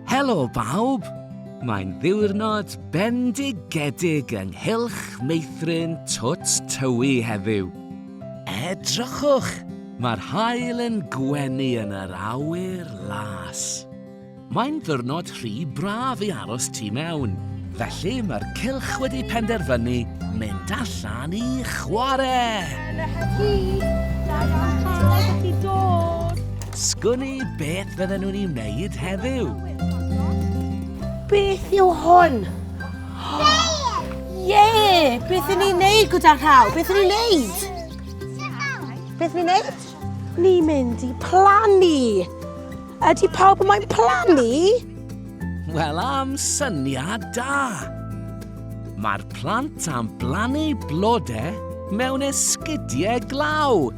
Helo bawb! Mae'n ddiwrnod bendigedig ynghylch meithrin twt tywi heddiw. Edrychwch, mae'r haul yn gwenu yn yr awyr las. Mae'n ddiwrnod rhy braf i aros tu mewn, felly mae'r cylch wedi penderfynu mynd allan i chwarae! Sgwni beth fydden nhw'n ei wneud heddiw? Beth yw hwn? Ie! Beth yn ei wneud gyda rhaw? Beth yn ei wneud? Beth yn ei wneud? Ni mynd i plannu! Ydy pawb yn moyn plannu? Wel am syniad da! Mae'r plant am blannu blodau mewn esgidiau glaw.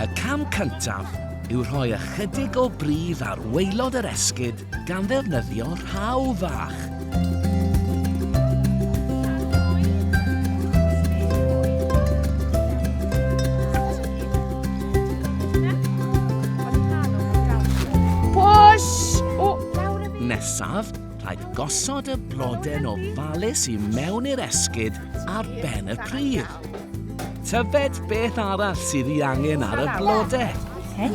Y cam cyntaf yw rhoi ychydig o bridd ar waelod yr esgid gan ddefnyddio rhaw fach. nesaf Rhaid gosod y bloden ofalus i mewn i'r esgid ar ben y pridd. Tyfed beth arall sydd i angen ar y blode. Hei?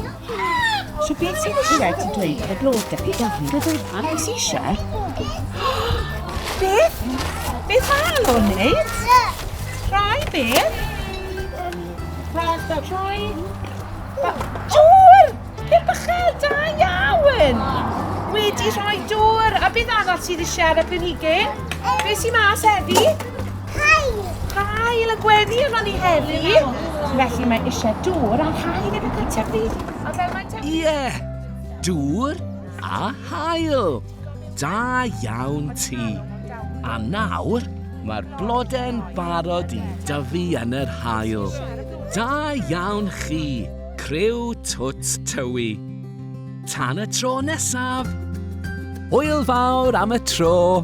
So beth sy'n eisiau ti dweud ar y blode? Gofyn, gofyn, beth sy'n eisiau? Beth? Beth mae Alon wneud? Rhai beth? Rhai, rhai... Siŵr! Pêr bychell, da iawn! Wedi rhoi dŵr, a beth arall sydd eisiau ar y planhigyn? Beth sy'n mas heddi? Hael! Hael y gweddi yma ni heddi. Felly mae eisiau dŵr a hael yn y cyntaf bryd. A fel mae te... Ie! Yeah. Dŵr a hael! Da iawn ti! A nawr, mae'r blodau'n barod i dyfu yn yr hael. Da iawn chi! Criw Twt Tywi. Tan y tro nesaf! Hwyl fawr am y tro!